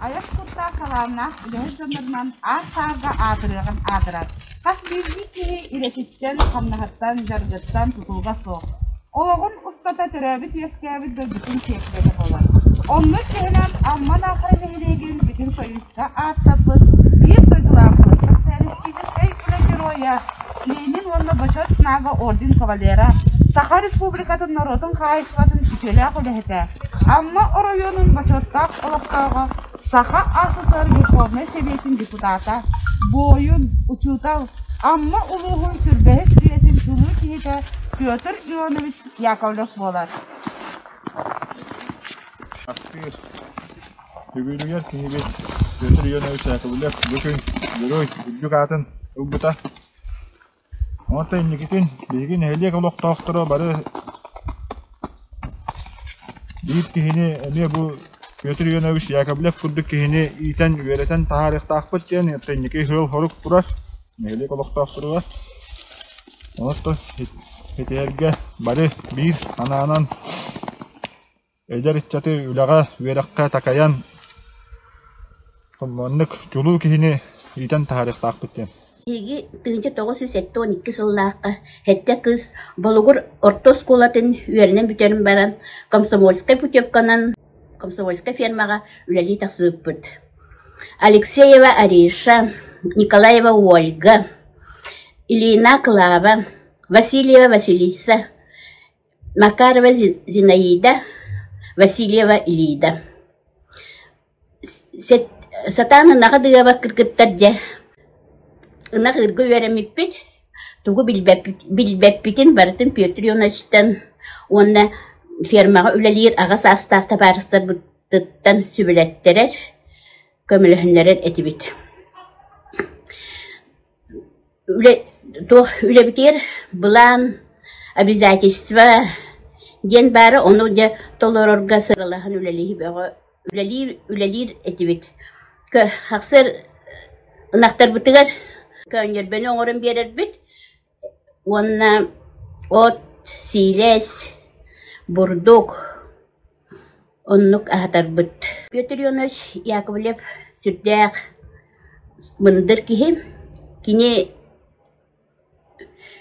Айар куттаах талааннаах үлэһит дьоннорунан аар-саарга аатырыаҕын аадырар Хас биирдии киһи идэтиттэн, хамнаһыттан, дьаргыттан тутулуга суох. Олоҕун устата төрөөбүт-үөскээбит дойдутун тиэкийэтэ буолар. Онно чэһинэн Амман аахара нэһилиэгин бүтүн союзка ааттаппыт биир дойдулаахпыт, социалистическай үлэ геройа, Ленин уонна Бочуот Нага орден кавалера, Саха Республикатын норуотун хаһаайыстыбатын үтүөлээх үлэһитэ, Амма оройуонун бочуоттаах олохтооҕо Саха СССР Верховнай Сэбиэтин депутата, буойун, учуутал, Амма улууһун сүрбэһис үйэтин тулуу киһитэ Петр Ионович Яковлев буолар. Актыыр. Үбүлүйэр киһибит Петр Ионович Яковлев бу күн герой үрдүк аатын ылбыта. Уонна инникитин биһиги нэһилиэк олохтоохторо бары биир киһини эмиэ бу Петр Иванович Яковлев курдук киһини иитэн, үөрэтэн таһаарыахтаахпыт диэн, ытта инники ыал-сорук турар нэһилиэк олохтоохторугар. Онтон итиэргэ бары биир санаанан Эдэр ыччаты үлэҕэ, үөрэххэ такайан, маннык чулуу киһини иитэн таһаарыахтаахпыт диэн. Биһиги тыһыынча тоҕус сүүс сэттэ уон икки сыллаахха сэттэ кыыс Болугур орто оскуолатын үөрэнэн бүтэрэн баран комсомольскай путевканан комсомольскай фермаҕа үлэлии тахсыбыппыт. Алексеева Ариша, Николаева Ольга, Ильина Клава, Васильева Василиса, Макарова Зинаида Васильева Ильида Сатаан ынаҕы дыабаккыт кыттар дьэ ынах ыырга үөрэммиппит тугу билбэппитин барытын Петр Ивановичтан уонна фермаҕа үлэлиир аҕа саастаах табаарыстарбытыттан сүбэлэттэрэр, көмөлөһүннэрэр этибит Үлэ туох үлэбитигэр былаан, обязательство диэн баара, ону дьэ толорорго сыралаһан үлэлии бөҕө үлэлиир үлэлиир этибит. Кө ахсар ынахтарбытыгар көөнньөрбэни оҥорон биэрэрбит уонна от, сиилэс, бурдук Оннук аһатарбыт. Петр Ионович Яковлев сүрдээх мындыр киһи. Кини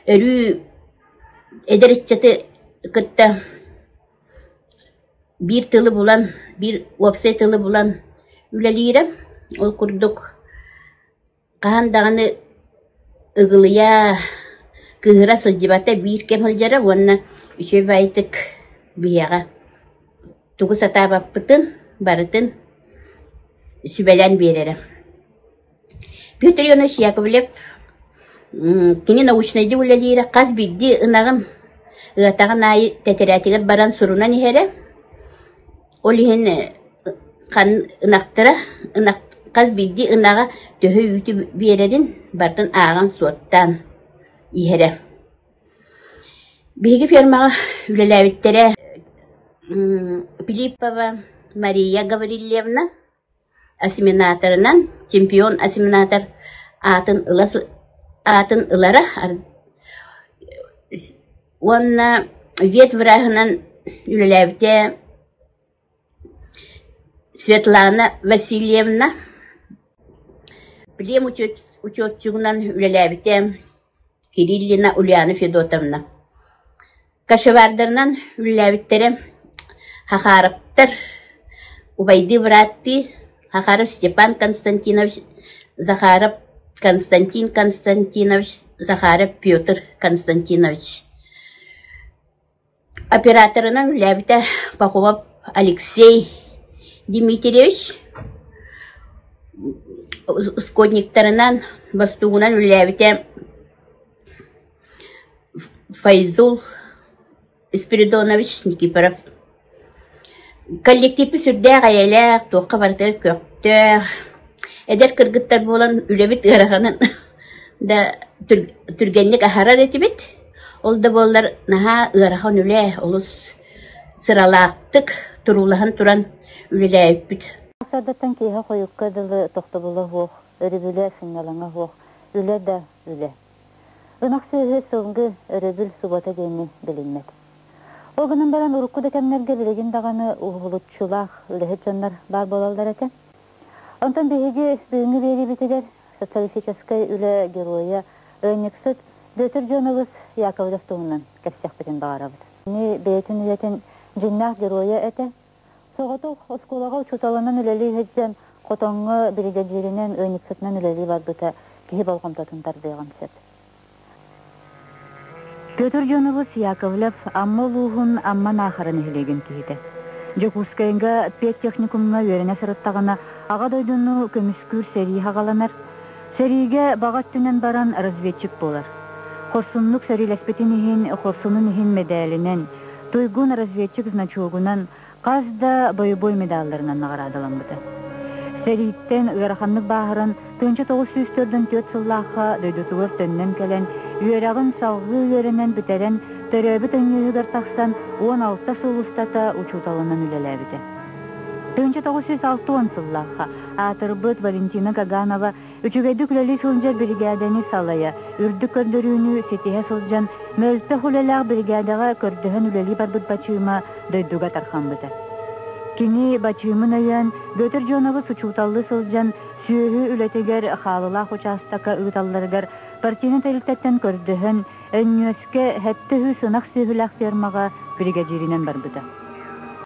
өрүү эдэр ыччаты кытта биир тылы булан, биир уопсай тылы булан үлэлиирэ. Ол курдук Хаһан даҕаны ыгылыйа, кыыһыра сылдьыбата биир кэм сылдьара уонна үчүгэйдик биһиэхэ тугу сатаабаппытын барытын сүбэлээн биэрэрэ. Петр Иванович Яковлев кини научнайдык үлэлиирэ, хас биирдии ынаҕын, ыатаҕын аайы тэтэрээтигэр баран сурунан иһэрэ. Ол иһин ынахтара хас биирдии ынаҕы төһө үүтү биэрэрин барытын ааҕан суоттаан иһэрэ. Биһиги фермаҕа үлэлээбиттэрэ Пилиппова Мария Гаврильевна. Осеменаторынан чемпион осеменатор аатын ыла сы аатын ылара уонна ветвраһынан үлэлээбитэ Светлана Васильевна, плем учёт учётчугунан үлэлээбитэ Кириллина Ульяна Федотовна кочевардарынан үллээбиттэрэ Хахаровтар убайдыы бырааттыы Захаров Степан Константинович Захаров Константин Константинович Захаров Петр Константинович Операторынан үлэлээбитэ Пахомов Алексей Дмитриевич, ускорниктарынан, бастугунан үлэлээбитэ Файзул Спиридонович Никифоров Коллективпыт сүрдээх эйэлээх, туохха барыта көхтөөх, эдэр кыргыттар буолан үлэбит ыараҕанын да түр- түргэнник аһарар этибит. Ол да буоллар наһаа ыарахан үлэ, олус сыралаахтык, туруулаһан туран үлэлээбиппит. Ардатан киһи хойукка дылы тохтобула суох, өрүбүлэ сынньалаҥа суох, үлэ да үлэ. Ынах сүөһү сылгы, өрөбүл субуота диэни билиммэт. Ол гынан баран урукку да кэмнэргэ билигин даҕаны уһулуччулаах үлэһит дьоннор баар буолаллар этэ. Онтон биһиги бүгүҥҥү биэриибитигэр социалистическай үлэ геройа ыанньыксыт Бүөтүр Дьуоналыс Яковлев туһунан кэпсиэхпитин баҕарабыт. Кини бэйэтин үлэтин дьиҥнээх геройа этэ, Соҕотох оскуолаҕа учууталынан үлэлии сылдьан, хотоҥҥо биригэдьииринэн, ыанньыксытынан үлэлии барбыта киһи болҕомтотун тардыаҕын сөп. Петр Юнович Яковлев Амма улууһун Амма Наахара нэһилиэгин киһитэ. Дьокуускайга педтехникумҥа үөрэнэ сырыттаҕына, Аҕа дойдуну көмүскүүр сэрии саҕаланар, Сэриигэ баҕа өттүнэн баран разведчик буолар. Хорсуннук сэриилэспитин иһин, хорсунун иһин мэдээлинэн, туйгун-разведчик значогунан, хас да бойобуой медалларынан наҕараадаламмыта. Сэрииттэн ыараханнык бааһыран, тыынча тоҕус сүүс төрдөн түөрт сыллаахха дойдутугар төннөн кэлэн, үөрэҕин салҕыы үөрэнэн бүтэрэн, төрөөбүт өҥүөһүгэр тахсан, уон алта сыл устата учууталынан үлэлээбитэ. Тыһыынча тоҕус сүүс алта уон сыллаахха аатырбыт Валентина Гаганова үчүгэйдик үлэлии сылдьар биригээдэни салайа, үрдүк көрдөрүүнү ситиһэ сылдьан, мөлтөх үлэлээх биригээдэҕэ көрдөһөн үлэлии барбыт Бачыыма дойдуга тарҕаммыта. Кини Бачыымын өйөөн, Бүөтүр Дьуонабыс учууталлыы сылдьан, сүөһү үлэтигэр хаалылаах учаастакка ыыталларыгар партийнай тэрилтэттэн көрдөһөн, Өнньүөскэ сэттэ сүүс ынах сүөһүлээх фермаҕа биригэдьииринэн барбыта.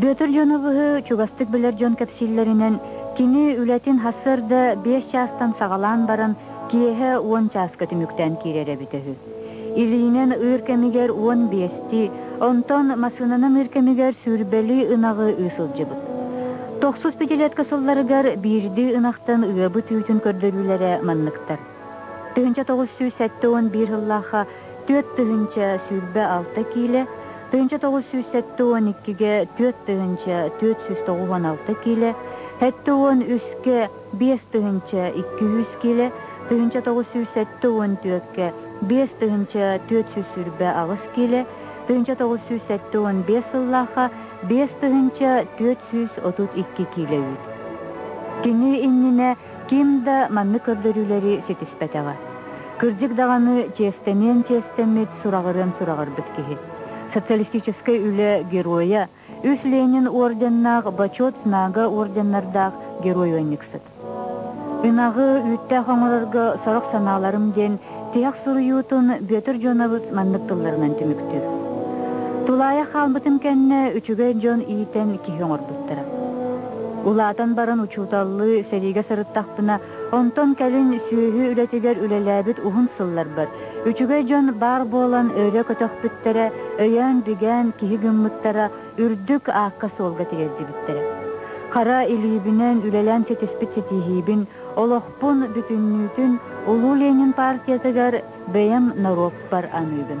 Бүөтүр дьон ылыһы чугастык билэр дьон кэпсииллэринэн, кини үлэтин сарсыарда биэс чаастан саҕалаан баран, киэһэ уон чааска түмүктээн киирэр эбитэ үһү. Илиинэн ыыр кэмигэр уон биэсти, онтон массыынанан ыыр кэмигэр сүүрбэли ынаҕы ыы сылдьыбыт. Тохсус пятилетка сылларыгар биирдии ынахтан ыабыт үүтүн көрдөрүүлэрэ манныктар. Тыһыынча тоҕус сүүс сэттэ уон биир сыллаахха түөрт тыһыынча сүүрбэ алта киилэ, тыһыынча тоҕус сүүс сэттэ уон иккигэ түөрт тыһыынча түөрт сүүс тоҕус уон алта киилэ, сэттэ уон үске биэс тыһыынча икки сүүс киилэ, тыһыынча тоҕус сүүс сэттэ уон түөккэ биэс тыһыынча түөрт сүүс сүүрбэ аҕыс киилэ, тыһыынча тоҕус сүүс сэттэ уон биэс сыллаахха биэс тыһыынча түөрт сүүс отут икки киилэ үүт. Кини иннинэ ким да маннык көрдөрүүлэри ситиспэтэҕэ. Кырдьык даҕаны чиэстэниэн-чиэстэммит сураҕырыан сураҕырбыт киһи. Социалистическай үлэ Геройа, үс Ленин орденнаах Бочуот Знага орденнардаах герой-уонньуксут. Ынаҕы, үүттээх оҥорорго сорох санааларым диэн Тиһэх суруйуутун Бүөтүр дьонобут маннык тылларынан түмүктүүр. Тулаайах хаалбытын кэннэ үчүгэй дьон иитэн киһи оҥорбуттара. Улаатан баран учууталлыы сэриигэ сырыттахпына, онтон кэлин сүөһү үлэтигэр үлэлээбит уһун сылларбар үчүгэй дьон баар буолан өрө көтөхпүттэрэ, өйөөн-бигээн киһи гыммыттара үрдүк аакка-суолга тириэрдибиттэрэ. Хара илиибинэн үлэлээн ситиспит ситиһиибин олох Спорппун бүтүннүүтүн Улуу Ленин партиятыгар бэйэм норуоппар аныыбын.